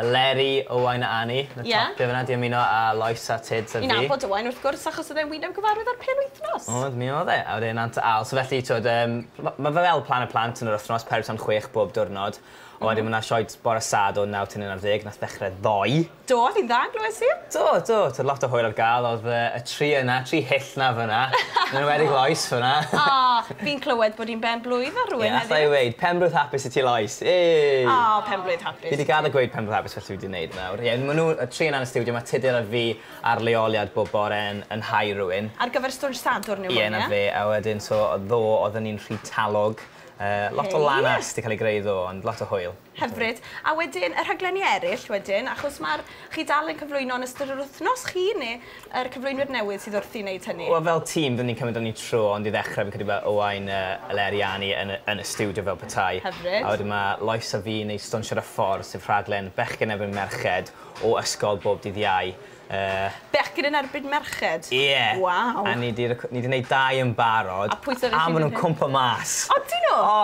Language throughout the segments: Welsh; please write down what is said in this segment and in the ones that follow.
Eleri, Owain a Annie. Ie. Y top gear fynna, di ymuno a Lois a Tuds a fi. Fi'n nabod Owain wrth gwrs achos oedd e'n wyneb gyfarwydd ar Pêl Wythnos. Oedd, mi oedd e. A wedyn Nant y Aal. So felly t'wod yym ma' ma' fe fel Plan y Plant yn yr wythnos, peder tan chwech bob diwrnod. A wedyn ma' 'na sioe t- bore Sad o naw tan un ar ddeg nath ddechre ddoe. Do, fi'n dda, glywes i. Do, do, t'od lot o hwyl ar ga'l. Odd yy y tri yna, tri hyll 'na fynna. Yn enwedig Lois fynna. O! Fi'n clywed bod hi'n ben-blwydd ar rywun heddiw. Ie, alla i weud, penblwydd hapus i ti Lois! Yay! O, penblwydd hapus i ti. Fi 'di gadel gweud penblwydd hapus fel ti wedi neud nawr. Ie, ma' nw, y tri yna yn y stiwdio, ma' Tudur a fi ar leoliad bob bore yn yn hau rywun. Ar gyfer stwnsh Sadwrn yw hwn, ie? Ie, 'na fe, a wedyn so ddo odden ni'n rhy talog yy lot o lanast 'di ca'l ei greu ddo, ond lot o hwyl. Hyfryd. A wedyn y rhaglenni eryll wedyn, achos ma'r... chi dal yn cyflwyno yn ystod yr wythnos chi neu yr cyflwynwyr newydd sydd wrthi neud hynny? Wel fel tîm dyn ni'n cymryd amni tro ond i ddechre fi'n credu ma' Owain yy Eleri a Annie yn y yn y stiwdio fel petai. Hyfryd. A wedyn ma' Lois a fi'n neud Stwnsiad a Ffordd sef rhaglen bechgyn erbyn merched o ysgol bob dydd Iau. Yy. Bechgyn yn erbyn merched? Ie. Waw. A ni 'di rec- ni 'di neud dau yn barod. A pwy sy ddeth un yn hŷn? A ma' nw'n cwmpo mas. Odyn nw? O!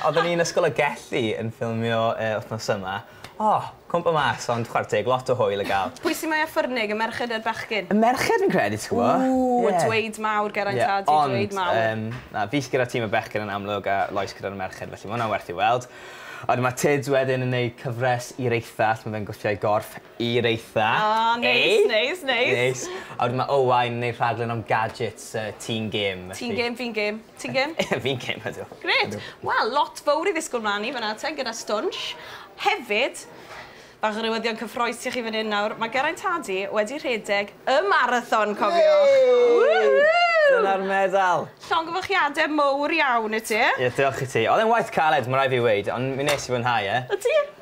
Odden ni yn Ysgol y Gelli yn ffilmio yy wthnos yma. O! Cwmpo mas ond chwar teg lot o hwyl i ga'l. Pwy sy mwya ffyrnig y merched ne'r bechgyn? Y merched fi'n credu ti gwbo. Ww y dweud mawr Geraint a di dweud mawr. Ie ond yym na fi sy gyda tîm y bechgyn yn amlwg a Lois gyda'r merched felly ma' wnna werth ei weld. A wedyn ma' Tids wedyn yn neud cyfres i'r eithaf lle ma' fe'n gwthio'i gorff I reitha. O neis neis neis. Neis. A wedyn ma' Owain yn neud rhaglen am gadgets yy ti'n gêm felly. Ti'n gêm fi'n gêm. Ti'n gêm? Fi'n gêm ydw. Grêt. Wel lot fowr i ddisgwl mlan i fan 'na te gyda Stwnsh. Hefyd bach o newyddion cyffroes i chi fan 'yn nawr ma' Geraint Hardy wedi rhedeg y marathon cofiwch. Woohoo! Dyna'r medal. Llongyfarchiade mowr iawn i ti. Ie diolch i ti. Odd e'n waith caled ma' rai' fi weud ond mi nes i fwynhau e. Ydi.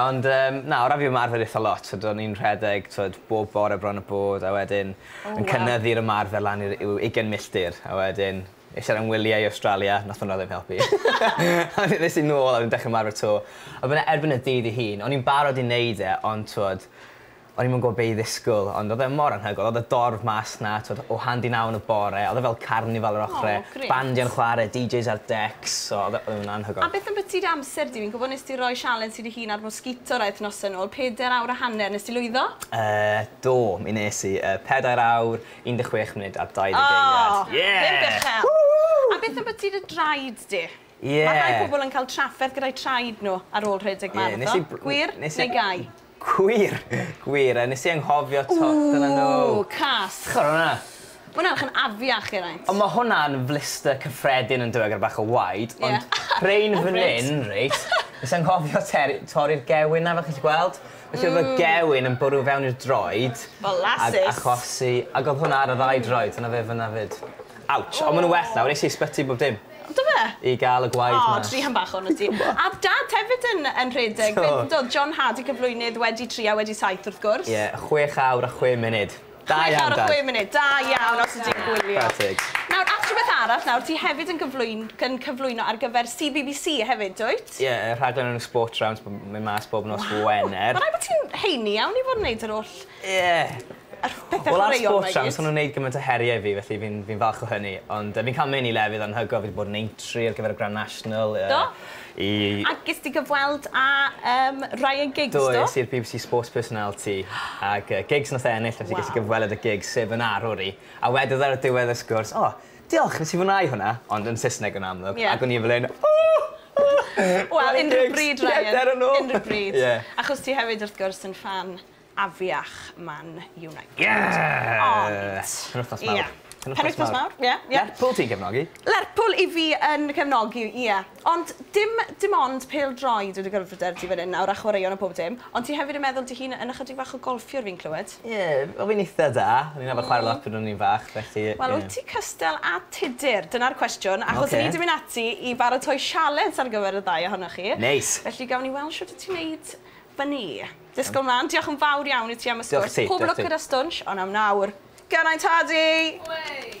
Ond yym na o ran fi ymarfer itha lot so do'n i'n rhedeg t'wod bob bore bron a bod a wedyn... O waw. ...yn cynyddu'r ymarfer lan i'r i'w ugen milltir a wedyn es i ar 'yn wylie i Awstralia nath hwnna ddim helpu. A wedyn es i nôl a wedyn dechre ymarfer 'to. A wedyn erbyn y dydd 'i hun o'n i'n barod i neud e ond t'wod O'n i'm yn gwbod be' i ddisgwl ond odd e mor anhygoel odd y dorf mas 'na t'od o handy naw yn y bore odd e fel carnifal yr ochre. O grêt. Bandiau yn chware DJs ar decs so odd e odd e'n anhygoel. A beth ambytu dy amser di? Fi'n gwbo nes di roi sialens i dy hun ar Mosquito rai wythnose nôl, peder awr a hanner, nes di lwyddo? Yy do mi nes i, yy pedair awr, un deg chwech munud a dau ddeg eiliad. O! Ie! Pump uchel! Woo! A beth ambytu dy draed di? Ie. Ma' rhai pobol yn ca'l trafferth gyda'i traed nw ar ôl rhedeg marathon. Ie nes i br-... Gwir neu gau? Gwir! Gwir! A nes i anghofio 'to. Dyna nhw. Ww! Cas! Chwara hwnna. Ma' hwnna edrych yn afiach i raint. Ond ma' hwnna'n flister cyffredin yndyw e gyda bach o waed. Ie. Ond rhein fan 'yn reit nes i anghofio teri- torri'r gewyn 'na fel chi 'llu gweld. Mm. Felly o'dd y gewyn yn bwrw fewn i'r droed. Molasses. Ag achosi ag o'dd hwnna ar y ddau droed dyna fe fyn 'na 'fyd. Ouch. O! On' ma' nw well nawr es i ysbyty bob dim. Do fe? I ga'l y gwaed mas. O, ti hen bachgen wyt ti. A o'dd Dad hefyd yn yn rhedeg... Do. ...be' o'dd John Hardy cyflwynydd wedi tri a wedi saith wrth gwrs. Ie, chwech awr a chwe munud. Da iawn Dad. Chwech awr a chwe munud, da iawn os wt ti'n gwylio. Chwarae teg. Nawr at rwbeth arall nawr, ti hefyd yn gyflwyn- yn cyflwyno ar gyfer See Bee Bee See hefyd dwyt? Ie, y rhaglen enw Sport Rounds b- myn' mas bob nos Wener. Waw! Ma' raid bo' ti'n heini iawn i fod yn neud yr oll... Ie. Ar pethe chwaraeon mae gyd. Wel ar sport trams ma' nw'n neud gymaint o herie i fi felly fi'n fi'n falch o hynny ond yy fi'n ca'l myn' i lefydd anhygol fi 'di bod yn Aintree ar gyfer y Grand National yy... Do? ...i... A ges di gyfweld â yym Ryan Giggs do? Do es i i'r Bee Bee See Sports Personality ag yy Giggs nath e ennill felly... Waw. ...ges i gyfweled â Giggs sef fy arwr i a wedodd e ar y diwedd y sgwrs o diolch nes i fwyn'au hwnna ond yn Sysneg yn amlwg... Ie. ...ag o'n i fel 'yn o o Ryan Giggs get there or no. Wel unrhyw bryd Ryan. Unrhyw bryd. Ie. Achos ti hefyd wrth gwrs yn ffan afiach Man United. Ie! Ond... Penwythnos mawr. Ie. Penwythnos mawr. Ie, ie. Lerpwl ti'n cefnogi? Lerpwl 'yf fi yn cefnogi, ie. Ond dim dim ond pêl-droed wedi gyrraedd fy dyrys i fan 'yn nawr a chwaraeon a pob dim, ond ti hefyd yn meddwl dy hun yn ychydig fach o golffiwr fi'n clywed? Ie, wel fi'n eitha da. O'n i'n arfer chware lot pryd o'n i'n fach, felly ie. Wel wyt ti cystal â Tudur? Dyna'r cwestiwn. Oce. Achos 'yn ni 'di mynd ati i baratoi sialens ar gyfer y ddau ohonoch chi. Neis! Felly gawn ni weld shwt wt ti'n neud fyny. Disgwyl mlan. Diolch yn fawr iawn i ti am y sgwrs. Pob lwc gyda Stwnsh, ond am nawr, Geraint Hardy! Way!